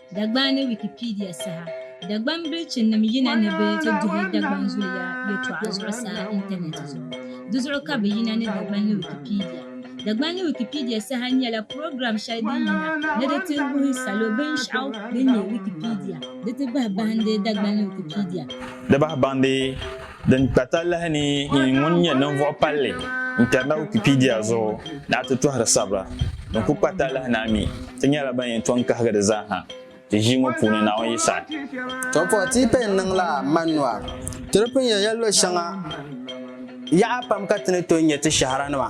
Dagban ni Wikipedia saha Dagban bilichinim yina ni bɛ ti duhi Dagban zuliya yɛtɔɣa zuɣusaa intanɛti zuɣu. Di zuɣu ka bɛ yina ni Dagban ni Wikipedia. Dagban ni Wikipedia saha nyɛla program shɛli din yina ni di ti wuhi salo binshɛɣu din nyɛ Wikipedia di ti bahi bahindi Dagban ni Wikipedia. Di bahi bahindi. Din kpa talahi ni yi ŋun nyɛ ninvuɣ palli n-kpɛri na Wikipedia zuɣu ni a ti tɔhiri sabira din kul kpa talahi ni a mi ti nyɛla ban yɛn tɔŋ kahigi di zaa ha ti ʒii ŋɔ puuni Naawuni yi saɣi To pɔi ti yi pɛi n-niŋ la manua. Ti di pun yɛn ya luɣ shɛŋa yaɣa pam ka ti ni tooi nyɛ ti shɛhiranima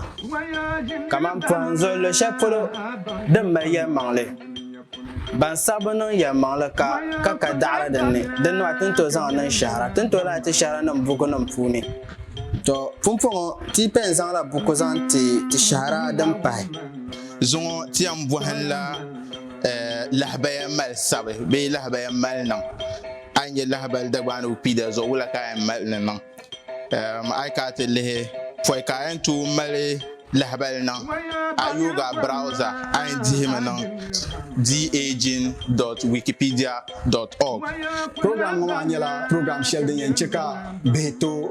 kaman pɔhim zuɣu luɣ shɛli polo din mali yɛlimaŋli. Ban sabbu niŋ yɛlimaŋli ka ka ka daɣiri din ni, din nɔhi ti ni tooi zaŋ niŋ shɛhira, ti ni tooi lahi ti shɛhiranim bukunim puuni. Tɔ! Pumpɔŋɔ, ti yi pɛn zaŋla buku zaŋ ti ti shɛhira din pahi. Zuŋɔ ti yɛn bɔhinla lahabaya mali sabi bee lahabaya mali niŋ. A yi nya lahibali Dagbaanigu Kpiida zuɣu, wula ka a yɛn mali ni niŋ? A yi kana ti lihi pɔi ka a yɛn tooi mali lahabali niŋ a yooga browza a yɛn dihimi niŋ daging.wikipedia.org program ŋɔ maa nyɛla program shɛli din yɛn chɛ ka bihi tooi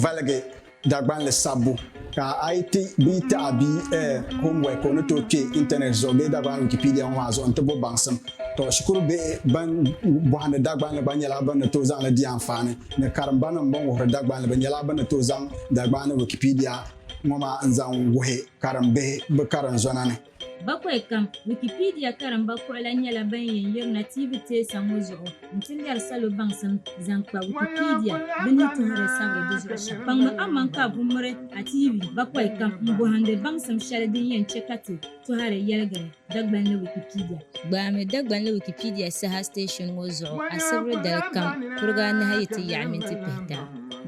valigi Dagbanli sabbu Ka a yi ti bia taɣi bia eh, homework ka o ni tooi kpe intanɛt zuɣu bee Dagbani Wikipedia ŋɔ maa zuɣu nti bo baŋsim. Tɔ, shikuru bihi ban bɔhindi Dagbanli gba nyɛla bɛ ni tooi zaŋ li di anfaani ni karimbanim bɛn wuhiri Dagbanli bɛ nyɛla bɛ ni tooi zaŋ Dagbaani Wikipedia ŋɔ maa n-zaŋ wuhi karimbihi bɛ karinzɔna ni. Bakwai kam, Wikipedia karimba kuɣila nyɛla ban yɛn yirina TV teesa ŋɔ zuɣu n-ti lɛri salo baŋsim zaŋ kpa Wikipedia bɛ ni tɔhiri sabiri di zuɣu shɛm. Kpaŋmi aman ka a buŋmiri a TV bakwai kam m-bɔhindi baŋsim shɛli din yɛn chɛ ka ti tɔhiri yɛligiri Dagbanli Wikipedia. Gbaami Dagbanli Wikipedia saha station ŋɔ zuɣu asibiri dali kam kuriga anahi yi ti yaɣi minti pihita.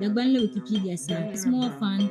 Dagbanli Wikipedia saha, Small Fund.